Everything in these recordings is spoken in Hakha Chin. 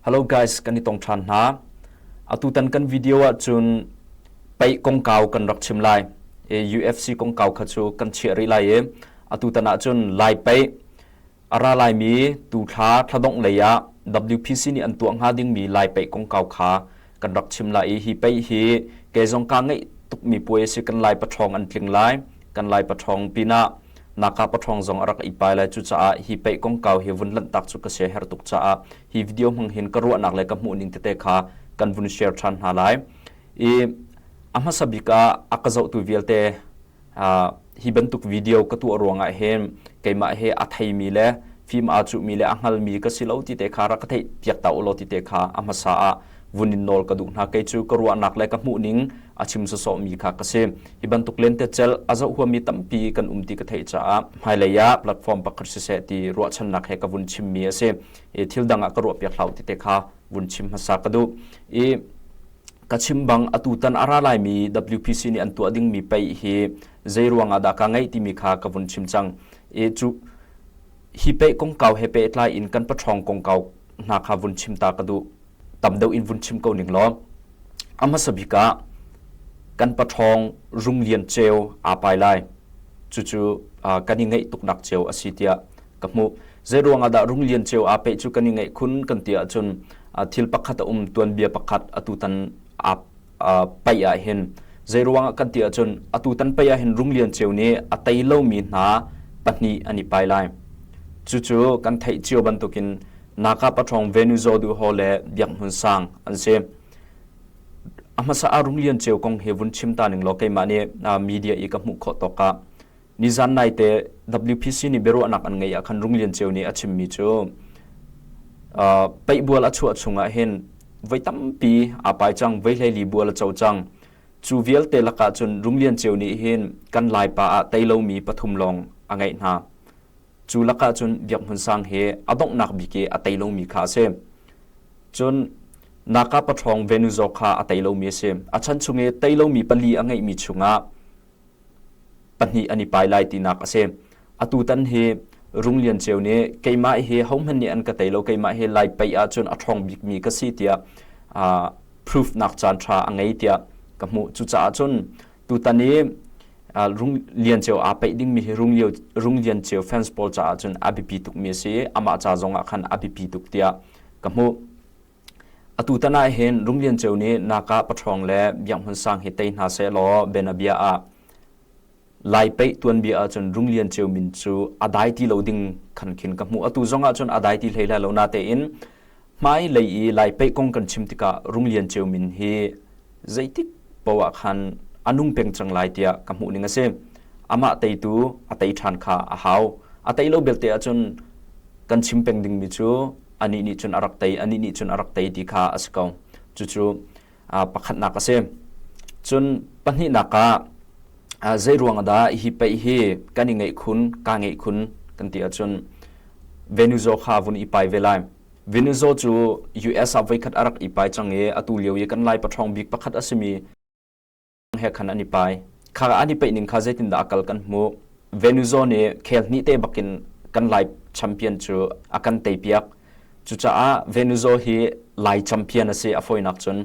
Hello guys, kan i tong ṭhan hna. Atutan kan video ahcun pei kongkau kan rak chim lai. E, UFC kongkau kha cu kan chiah rih lai i atutan ahcun lai pei a ra laimi tu thla thladongh lei ah WPC nih an tuah hnga dingmi lai pei kongkau kha kan rak chim lai i hi pei hi ke zong kaa ngeih tukmi puai a si kan Lai paṭhawng an tling lai kan Lai paṭhawng pinah Naka paṭhawng zong a rak ipai lai cucaah hi pei kongkau hi vun lanhtak cu ka sia her tuk caah hi video hmang hin ka ruahnak le ka hmuhning tete kha kan vun share ṭhan hna lai i a hmasa bik ah a ka zohtu vialte Hi bantuk video ka tuah ruangah hin keimah he a theimi le fim aa cuhmi le a hngalmi ka si lo ti te kha rak ka theih piak ta ulaw ti te kha a hmasa ah vun in nawl ka duh hna kei cu ka ruahnak le ka hmuhning a chim sawsawhmi kha ka si hi bantuk lentecel a zoh huami tampi kan um ti ka theih caah hmailei ah platform pakhat siseh ti ruahchannak he ka vun chimmi a si i thil dang ah ka ruah piak hlau ti te kha vun chim hmasa ka duh i Ka chim bang atutan a ra laimi WPC nih an tuah dingmi pei hi zei ruangah dah ka ngeih timi kha ka vun chim cang i cu hi pei kongkau he pehtlai in kan paṭhawng kongkau hna kha vun chim ta ka duh tam deuh in vun chim ko ning law a hmasa bik ah kan paṭhawng rung lian ceu aa pai lai cucu kan i ngeih tuknak ceu a si tiah ka hmuh. Zeiruang ahdah Rung Lian Ceu aa peh cu kan i ngaih khun kan ti ahcun thil pakhat a um, tuanbia pakhat atutan aa paih ahhin. Zeiruang ah kan ti ahcun atutan pei ahhin Rung Lian Ceu nih a tei lomi hna pahnih an i pai lai. Cucu kan theih cio bantukin Naka Paṭhawng Venuzaw Duh Ho le Biak Hmun Sang an si. A hmasa ah Rung Lian Ceu kong hi vun chim ta ning law keimah nih media i ka hmuh khawh tawk ah Nizan naite WPC nih biaruahnak an ngeih ah khan Rung Lian Ceu nih a chimmi cu uh, peihbual a chuah chungah hin voi tampi aa pai cang voi hleili bual a co cang cu vialte lakah cun Rung Lian Ceu nih hin kan laipa ah tei lomi pathum lawng a ngeih hna cu lakah cun Biak Hmun Sang hi a donghnak bik i a tei lomi kha a si cun Naka paṭhawng Venuzawk kha a tei lomi a si a chan chung i tei lomi pali a ngeihmi chungah pahnih an i pai lai tinak a si. Atu tan hi Rung Lian Ceu nih keimah hi hohmanh nih an ka tei lo keimah hi lai pei ahcun a ṭhawng bikmi ka si tiah uh, proof nak caan ṭha a ngei tiah ka hmuh cucaah cun tutan i uh, Rung Lian Ceu aa peih dingmi hi Rung, Lio, Rung Lian Ceu fans pawl caah cun a biapi tukmi a si amah ca zongah khan a biapi tuk tiah ka hmuh Atu tan ah hin Rum Lian Ceu nih naka paṭhawng le Bianghmun Sang hi tei hna seh law bianabia ah lai peih tuanbia ahcun Rum Lian Ceu min cu a dai ti lo ding khan khin ka hmuh. Atu zong ahcun a dai ti hlei hlai lo natein hmailei i lai peih kong kan chim tikah Rum Lian Ceu min hi zeitik poh ah khan a nung peng cang lai tiah ka hmuhning a si. Amah teitu a tei ṭhan kha a hau. A tei lo belte ahcun kan chim peng dingmi cu anih nih cun a rak tei, anih nih cun a rak tei ti kha a si ko. Cucu pakhatnak a si. Cun pahnihnak ah zeiruang dah hi pei hi kan i ngeih khun, kaa ngeih khun kan ti ahcun Venuzo kha vun i pai ve lai. Venuzo cu US ah voikhat a rak i pai cang i atu lio i kan Lai paṭhawng bik pakhat a simi he khan an i pai kha an i peih ning kha zeitindah a kal kan hmuh Venuzo nih khel hnih te bakin kan lai champion cu a kan teipiak cucaah Venuzo hi lai champion a si a foinak cun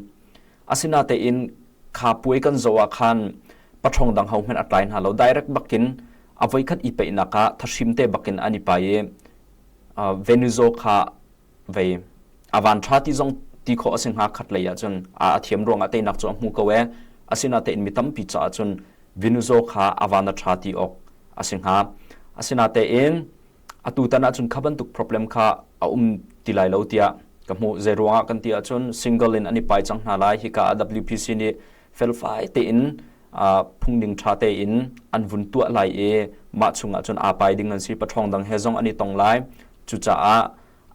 asinatein kha puai kan zo ah khan pathong dang hohman a tlai hna lo direct bakin a voi khat i peihnak ah thashim te bakin an i pai i Venuzo kha vei a van tha ti zong ti khawh a si hnga khat lei ahcun a thiam ruangah teinak cu a hmu ko e asinatein mi tampi caah cun Venuzo kha a van a tha ti awk a si hnga asinatein atu tan ahcun kha bantuk problem kha a um ti lai lo tiah ka hmuh zei ruangah kan ti ahcun single in an i pai cang hna lai hika ah WPC nih felfai tein phungning ṭha tein an vun tuah lai i mah chungah cun aa pai ding an si paṭhawng dang he zong an i tong lai cucaah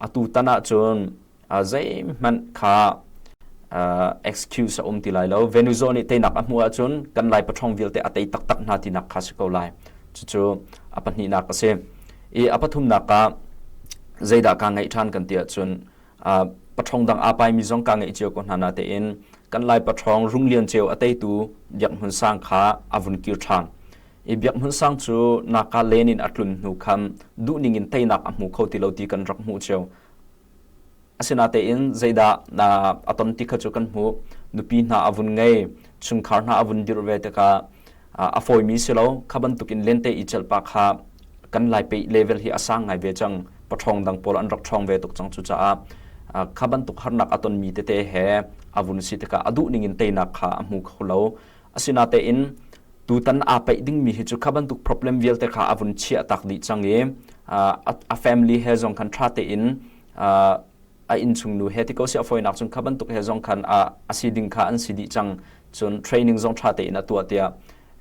atu tan ah cun zeihmanh kha excuse a um ti lai lo Venezuela nih teinak a hmuh ahcun kan lai paṭhawng vialte a tei taktak hna tinak kha si ko lai cucu a pahnihnak a si i a pathumnak ah zeidah kaa ngaih ṭhan kan ti ahcun paṭhawng dang aa paimi zong kaa ngeih cio ko hna natein kan lai paṭhawng rung lian ceu a teitu biak hmun sang kha a vun kir ṭhan i biak hmun sang cu naka len in a tlun hnu khan duhning in teinak a hmu kho ti lo ti kan rak hmuh cio asinatein zeidah na aton ti kha cu kan hmuh nupi hna a vun ngei chungkhar hna a vun dirh ve tikah a fawimi si lo kha bantukin lente i celhpa kha kan laipe level hi a sang ngai ve cang paṭhawng dang pawl an rak ṭhawng ve tuk cang cucaah kha bantuk harnak a tonmi tete he a vun si tikah a duh ningin teinak kha a hmu kho lo asinatein tutan aa peih dingmi hi cu kha bantuk problem vialte kha a vun chiah tak dih cang i a family he zong khan ṭha tein a innchungnu he ti ko siah fawinak cun kha bantuk he zong khan a, a si ding kha an si dih cang cun training zong ṭha tein a tuah tiah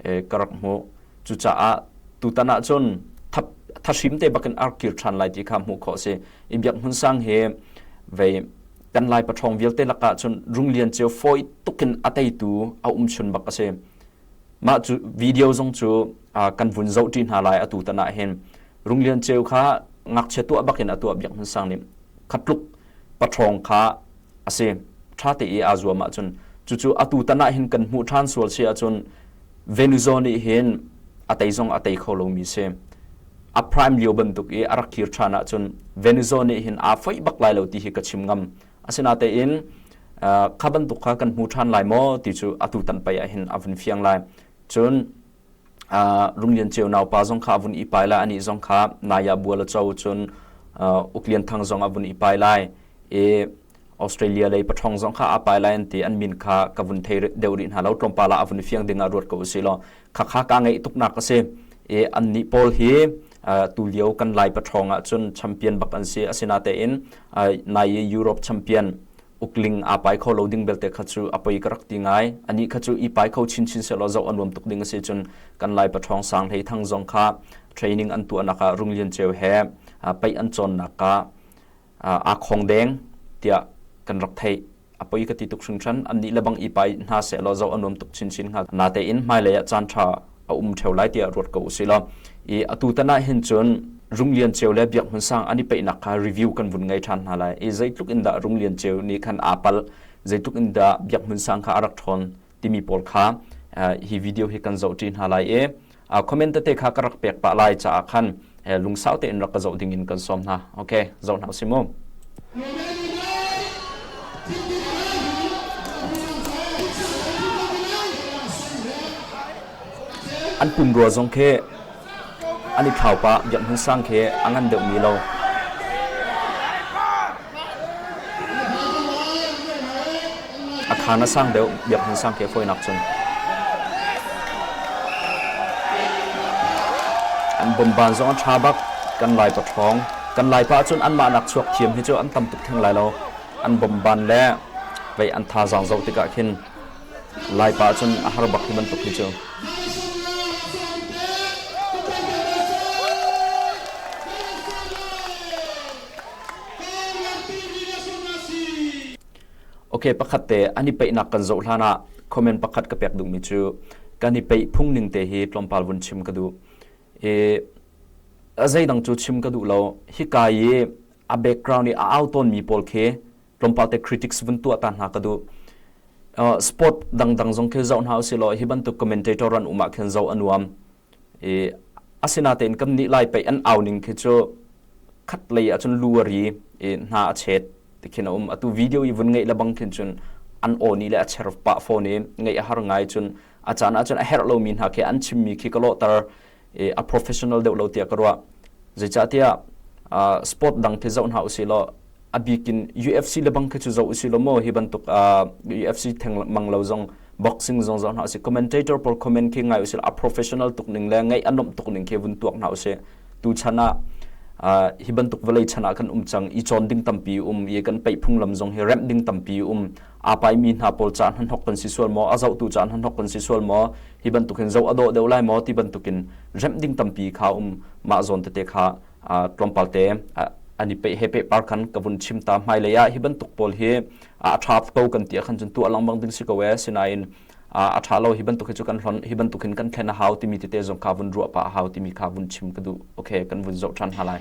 e, ka rak hmuh cucaah tutan ah cun thap thashim te bakin ar kir ṭhan lai ti kha hmuh khawh si i biak hmun sang hi vei kan lai paṭhawng vialte lakah cun rung lian cio fawi tukin a teitu a um chun bak a si mah cu video zong cu kan vun zoh ṭi hna lai atu tan ah hin Rung Lian Ceu kha ngakchia tuah bak in a tuah biak hmun sang nih khatluk paṭhawng kha a si ṭha te i aa zuam ahcun cucu atu tan ah hin kan hmuh ṭhan sual si ahcun Venuzo nih hin a tei zong a tei kho lomi si a prime lio bantuk i a rak kir ṭhan ahcun Venuzo nih hin aa foih bak lai lo ti hi ka chim ngam Asinatein kha bantuk kha kan hmu ṭhan lai maw ti cu atu tan pei ah hin a vun fiang lai. Cun Rung Lian Ceu naupa zong kha a vun i pai lai, anih zong kha Naya Bual a co cun Uk Lian Thang zong a vun i pai lai i Australia lei paṭhawng zong kha aa pai lai an ti an min kha ka vun thei deuh rih hna lo tlawmpal ah a vun i fiang ding ah ruat ko u sih law khakha kaa ngeih tuknak a si i annih pawl hi tulio kan lai pathrawng ahcun champion bak an si asinatein nai i Europe champion ukling aa pai kho lo ding belte kha cu a poi ka rak ti ngai anih kha cu i pai kho chinchin selaw zoh a nuam tuk ding a si cun kan lai pathrawng sang hlei thang zong kha training an tuahnak ah Rung Lian Ceu he paih an cawnnak ka aa khong deng tiah kan rak theih a poi ka ti tuk hringhran annih le bang i pai hna sehlaw zo a nuam tuk chinchin hnga natein hmailei ah caan ṭha a um ṭheo lai tiah ruat ko usih law i atu tan ah hin cun Rung Lian Ceu le Biak Hmun Sang an i peihnak kha review kan vun ngei ṭhan hna lai i zeitluk in dah Rung Lian Ceu nih khan aa pal zeitluk in dah Biak Hmun Sang kha a rak ṭhawn timi pawl kha hi video hi kan zoh ṭi hna lai i comment tete kha ka rak pek pah lai caah khan lungsau tein rak ka zoh ding in kan sawm hna ok zoh hna usim mu an pumrua zong khi An i thlau pah, Biak Hmun Sang khi a ngan deuhmi lo. A khaan a sang deuh, Biak Hmun Sang khi a fawinak cun. An bomban zong a ṭha bak, kan Laipa ṭhawng. Kan Laipa ahcun anmah nak chuak thiam hi cu an tam tuk theng lai lo. An bomban le vei an thazaang zoh tikah khin Laipa ahcun a har bak hi bantuk hi cu. Ok, pakhat te an i peihnak kan zoh hlan ah comment pakhat ka pek duhmi cu kan i peih phungning te hi tlawmpal vun chim ka duh. I a zeidang cu chim ka duh lo. Hika i a background i a au tawnmi pawl khi tlawmpal te critics vun tuah ta hna ka duh uh, sport dangdang zong khi zoh hna usih law hi bantuk commentator ran umah khin zo anuam i asina tein kam ni lai pei an auning khi chu khat lei acun luari i hna a chet tikhin um atu video i vun ngei labang khin chun an oni le acher pa phone i ngei a har ngai chun acana chun a her lo mi hna khi an chimmi khi kalo tar i a professional deuh lo tiah ka ruah. Zeicahtiah uh, sport dang khi zoh hna usih law a bikin UFC le bang khi cu zoh usih law maw hi bantuk uh, UFC theng mang lo zong boxing zong zoh hna usih commentator por comment khi ngai usih a professional tuk ning le ngai anom tuk ning khi vun tuak hna usih tu chan ah uh, hi bantuk vawlei chan ah kan um cang i chon ding tampi um i kan peih phunglam zong hi rem ding tampi um aa paimi hna pawl caah hnahnok kan si sual maw a zohtu caah hnahnok kan si sual maw hi bantukin zoh a dawh deuh lai maw ti bantukin remh ding tampi kha um mah zawn tete kha tlawmpal te ani pe he pe par khan ka vun chim ta hmai lei ah hi bantuk pawl hi a tha ko kan ti khan chun tu alang bang ding si ko e sinain a tha lo hi bantuk hi chu kan hlon hi bantukin kan thlen a hau timi tete zong kha vun ruah pa a hau timi kha vun chim ka du okay kan vun zoh than ha lai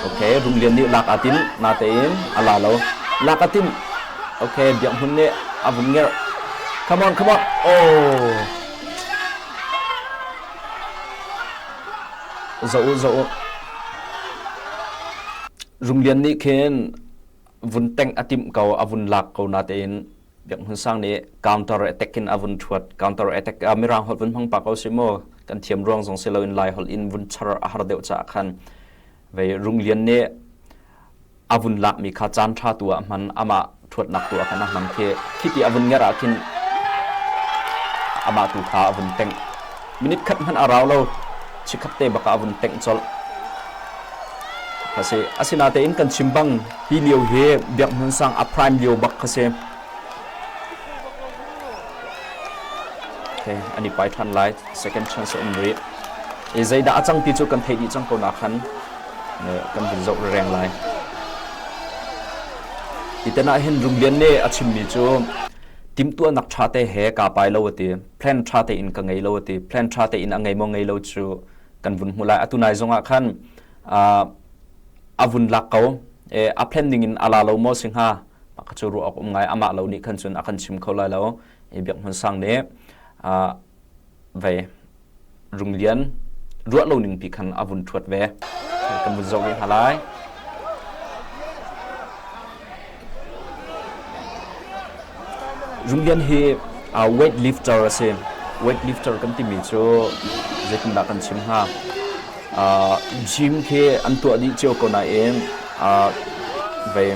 Ok, Rum Lian nih lak aa tinh natein a la lo. Lak a tinh. Ok, Biak Hmun nih a vung ngerh. Come on, come on. Oh. Zo u, zo u. Rum Lian nih khin vun teng a tim ko, a vun lak ko natein Biak Hmun Sang nih counter attack in a vun thuat. Counter attack uh, Mirang holh vun hmang pa ko si mu. Kan thiam ruang zong si loin Lai holh in vun char a har deuh ca khan. Ve Rung Lian nih a vun lak mi kha caan tha tu ah hman ama thuat nak tu ah khan a hmang khi khi ti a vun ngar ah khin ama tu kha a vun teng Minute khat hmanh a rau lo chikkhat te bak ah a vun tengh colh. Khasi asinatein kan chim bang hi lio hi Biak Hmun Sang a prime lio bak khasi. Okay, ani pai than lai second chance an ri. E zeidah a cang ti cu kan thei dih cang ko na khan ne kan vun zo reng lai. Itena hin Rumbian ne a chimmi cu timtuanak tha te he ka pai lo ati. plan ṭha tein ka ngei lo ti plan ṭha tein a ngei maw ngei lo cu kan vun hmu lai atu nai zongah khan a vun lak ko a plan ningin a la lo maw si hnga ka cu ruah awk um ngai amah lo nih khan cun a kan chim kho lai lo i biak hmun sang nih vei Rum Lian ruah lo ning pi khan a vun ṭhuat ve. Kan vun zoh ve hna lai. Rum Lian hi uh, weightlifter a si. Weightlifter kan timi cu zeitindah kan chim hnga? Uh, gym khi an tuah dih cio ko nain uh, vei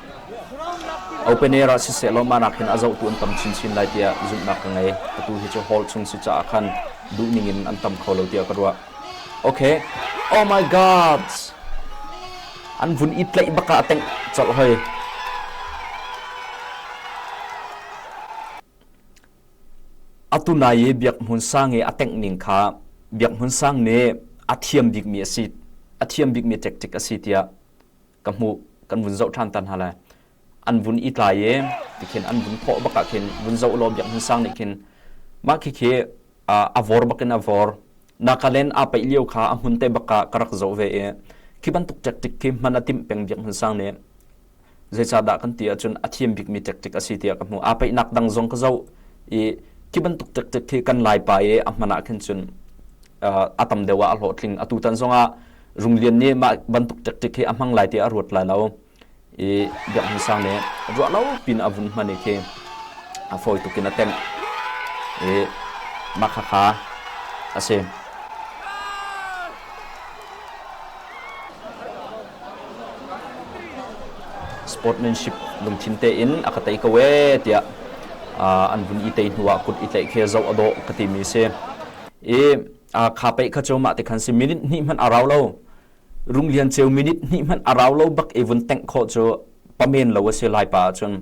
Open air ah sisehlaw mah nakin a zohtu an tam chinchin lai tiah zumhnak ka ngei. Atu hi cu hall chung si caah khan duhning in an tam kho lo tiah ka ruah. Okay. Oh my gods. An vun i tlaih bak ah a tengh colh hoi. Atu nai i biak hmun sang i a tengh ning kha biak hmun sang nih a thiam bikmi a si a thiam bikmi tactic a si tiah ka hmuh kan vun zoh ṭhan ta hna lai an vun i tlai i tikhin an vun thawh bak ah khin vun zoh law biakinn sang nih khin mah khikhi a vawr bakin a vawr nakalen aa paih lio kha a hmun te bak ah ka rak zoh ve i khi bantuk tactic khi hman a timh peng biakinn sang nih zeicahdah kan ti ahcun a thiam bikmi tactic a si tiah ka hmu aa paihnak dang zong ka zoh i khi bantuk tactic khi kan lai pa i a hman ah khin cun a tam deuh ah a hlawhtling atu tan zongah Rung Lian nih mah bantuk tactic hi a hmang lai tiah a ruat lai lo i Biakinn sang nih ruah lo pin a vun hman i khi a fawi tuk in a tenh i mah khakha a si. sportsmanship lungthin tein a ka tei ko e tiah an vun i tei hnu ah kut i tlaih khi zoh a dawh ka timi si i kha pei kha cu mah te khan si minute hnih hmanh a rau lo rung lian ceu minute hnih hmanh a rau lo bak i vun tengh kho cu pamen lo a si lai pa cun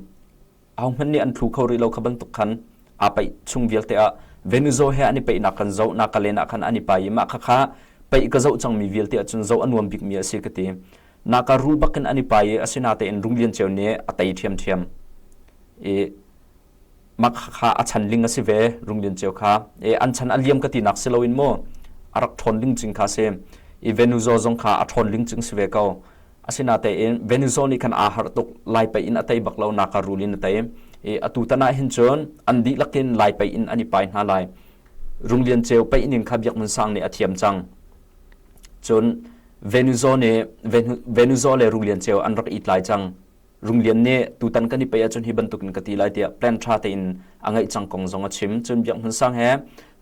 au hman nih an thlu kho rih lo kha bantuk khan a pei chung vialte ah Venezuela he an i peinak kan zo na kalena khan an i pai i mah kha kha pei ka zo cang mi vialte ah cun zo a nuam bik mi a si ka ti na ka ru bakin an i pai i asina tein rung lian ceu ne a tei ṭhiam ṭhiam i mak kha a chan ling a si ve Rung Lian Ceu kha e an chan a liam ka tinak si loin mu a rak ṭhawn ling cing kha si i Venuzo zong kha a ṭhawn ling cing si ve ko asinatein Venuzo nih khan aa harh tuk lai pei in a tei bak lo naka rul in a tei i atu tanah hin cun an dihlak in lai pei in an i pai hna lai Rung Lian Ceu pei ning kha Biak Mun Sang nih a thiam cang cun Venuzo nih Venuzo le Rung Lian Ceu an rak itlai cang Rung Lian nih tutan kan i pei ahcun hi bantuk in ka ti lai tiah plan tha tein a ngaih cang kong zong a chim. Cun Biak Hmun Sang he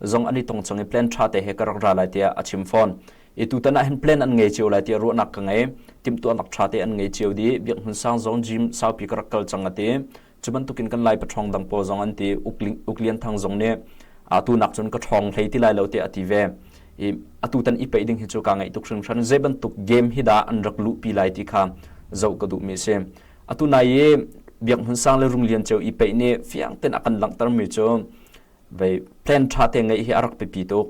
zong an i tong cang i plan tha te he ka rak ra lai tiah a chim fawn. I tutan ah hin plan an ngei cio lai tiah ruahnak ka ngei. Timhtuahnak tha te an ngei cio dih. Biak Hmun Sang zong gym saupi ka rak kal cang a ti. Cu bantukin kan Lai paṭhawng dang pawl zong an ti. Uk Lian Thang zong nih atu nak cun ka ṭhawng hlei ti lai lo tiah a ti ve. i atutan i peih ding hi cu ka ngaih tuk hringhran zei bantuk game hi dah an rak luhpi lai ti kha zoh ka duhmi a si atu nai i biak hmun sang le rung lian ceu i peih nih fiang ten a kan langhtermi cu vei plan tha te ngeih hi a rak pipi tuk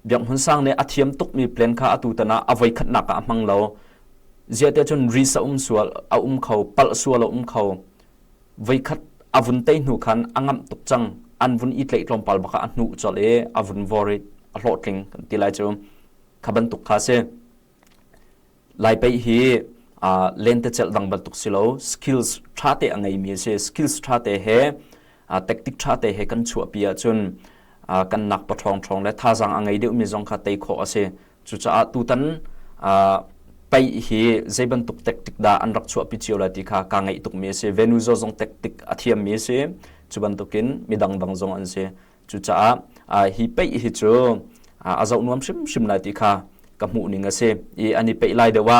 biak hmun sang nih a thiam tukmi plan kha atu tan ah a voi khatnak ah a hmang lo ziate cun ri sa um sual a um kho pal sual a um kho Voikhat a vun tei hnu khan a ngamh tuk cang. An vun i tleih tlawmpal bak ah a hnuk colh i a vun vor i a hlawhtling kan ti lai cu. Kha bantuk kha si. Lai pei hi uh, lentecelh dang bantuk si lo, skills ṭha te a ngeimi a si. Skills ṭha te he, uh, tactic ṭha te he kan chuahpi ahcun uh, kan nak paṭhawng ṭhawng le thazaang a ngei deuhmi zong kha tei khawh a si. Cucaah tutan pei hi zei bantuk tactic dah an rak chuahpi cio lai ti kha kaa ngaih tukmi a si. Venuza zong tactic a thiammi a si. Cu bantukin mi dangdang zong an si. Cucaah hi pei hi cu a zoh nuam hrimhrim lai ti kha ka hmuhning a si i an i peih lai deuh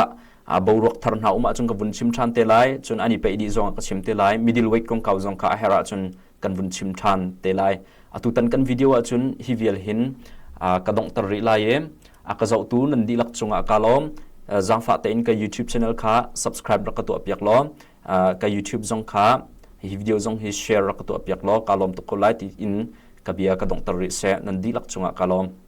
ah boruak thar hna um ahcun ka vun chim ṭhan te lai. Cun an i peih dih zong ah ka chim te lai. Middleweight kongkau zong kha a herh ahcun kan vun chim ṭhan te lai. Atutan kan video ahcun hi vial hin ka donghter rih lai i a ka zohtu nan dihlak cungah ka lawm. Zaangfah tein ka YouTube channel kha subscribe rak ka tuah piak law ka YouTube zong kha hi video zong hi share rak ka tuah piak law ka lawm tuk ko lai tiin ka bia ka donghter rih seh nan dihlak cungah ka lawm.